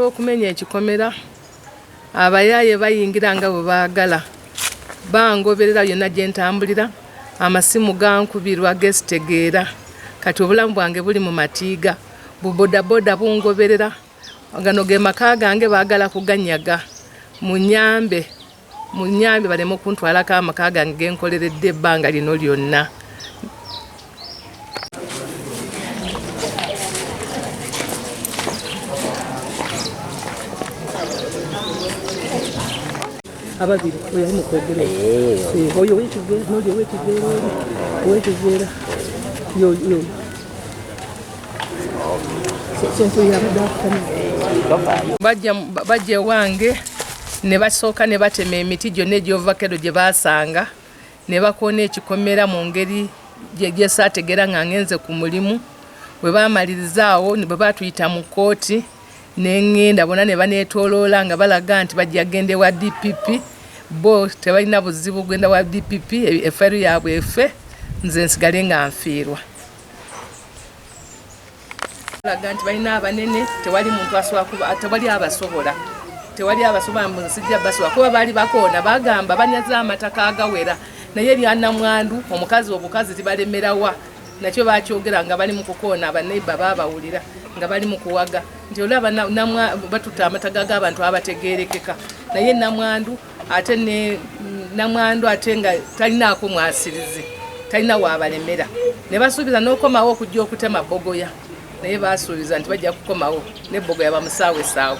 Olw'okumenya ekikomera, abayaaye bayingira nga bwe baagala, bangoberera yonna gye ntambulira, amasimu gankubirwa gesitegeera, kati obulamu bwange buli mu matiiga, bu bodaboda bungoberera, gano ge maka gange baagala kuganyaga, munyambe. Munyambe baleme okuntwalako amaka gange genkoleredde ebbanga lino lyonna. ababiri oyo ali mukwogera oyo wekiveera noli owekiveera oli owekiveera yoyo bajja ewange ne basooka ne batema emiti gyonna egy'ovakero gye baasanga ne bakoona ekikomera mu ngeri gyesaategeera nga ngenze ku mulimu bwe baamalirizaawo bwe baatuyita mu kkooti ne ngenda bona ne baneetooloola nga balaga nti bajja genda ewa dpp bo tebalina buzibu genda wa dpp efairo yaabwe efe nze nsigale nga nfiirwa laga nti balina abanene tewali muntu asobola tewali abasobola tewali abasobola mu nsi gya basobola kuba baali bakoona bagamba banyaze amataka agawera naye byanamwandu omukazi obukazi tibalemerawa nakyo bakyogera nga bali mu kukoona abaneiba babawulira nga bali mu kuwaga nti olaba batuta amataga g'abantu abategerekeka naye namwandu ate ne namwandu ate nga talinaako mwasirizi talina waabalemera ne basuubiza n'okomawo okujja okutema bogoya naye baasuubiza nti bajja kukomawo ne bogoya bamusaawe saawe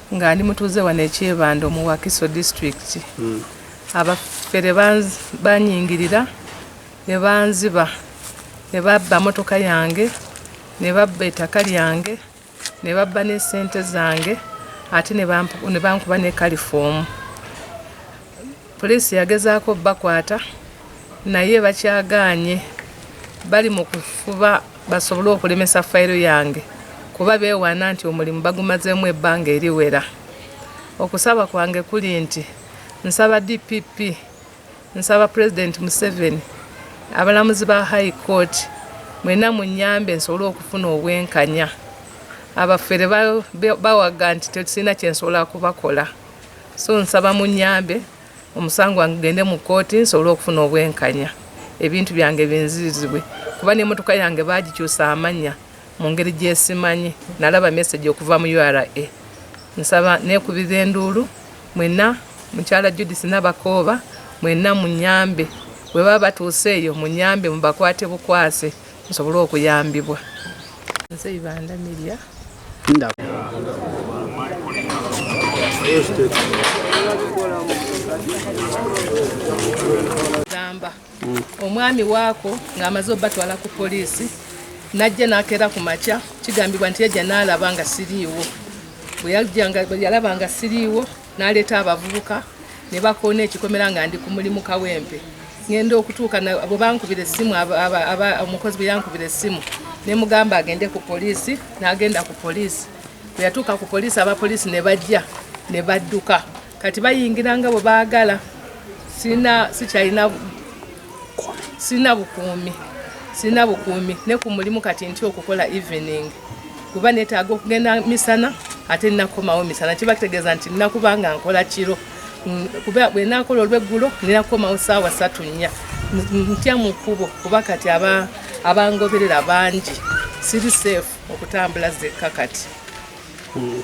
nga ndi mutuuze wano ekyebando mu wakiso district hmm. abafere banyingirira ne banziba ne babba motoka yange ne babba ettaka lyange ne babba n'esente zange ate ne bankuba ne kalifoomu Poliisi yagezaako bakwata naye bakyagaanye bali mu kufuba basobole okulemesa fayiro yange kuba beewaana nti omulimu bagumazeemu ebbanga eriwera okusaba kwange kuli nti nsaba dpp nsaba pulezidenti museveni abalamuzi ba high court mwena munyambe nsobole okufuna obwenkanya abafere bawaga nti tetulina kyensobola kubakola so nsaba munyambe omusango wange gende mu kkooti nsobole okufuna obwenkanya ebintu byange binzirizibwe kuba n'emotoka yange baagikyusa amannya mu ngeri gyesimanyi nalaba mesegi okuva mu ura nsaba nekubira enduulu mwena mukyala judis nabakooba mwena munyambe webaba batuuse eyo munyambe mubakwate bukwase nsobole okuyambibwa nze ibanda miria gamba mm. omwami waako ng'amaze obatwala ku poliisi najja nakeera ku makya kigambibwa nti yajja naalaba nga siriiwo bwe yalaba nga siriiwo Naleeta abavubuka ne bakoona ekikomera nga ndi ku mulimu Kawempe. Ngenda okutuuka bwe bankubira essimu, omukozi bwe yankubira essimu ne mugamba agende ku poliisi, n'agenda ku poliisi. Bwe yatuuka ku poliisi, abapoliisi ne bajja ne badduka. Kati bayingira nga bwe baagala, sirina sikyalina sirina bukuumi sirina bukuumi ne ku mulimu kati nti okukola evening kuba netaaga okugenda misana ate nakomawo misana kiba kitegeeza nti nakuba nga nkola kiro mm, kuba bwenakola olweggulo ninakomawo saawa satu nnya ntya mu kkubo kuba kati abangoberera bangi siri safe okutambula zekka kati hmm.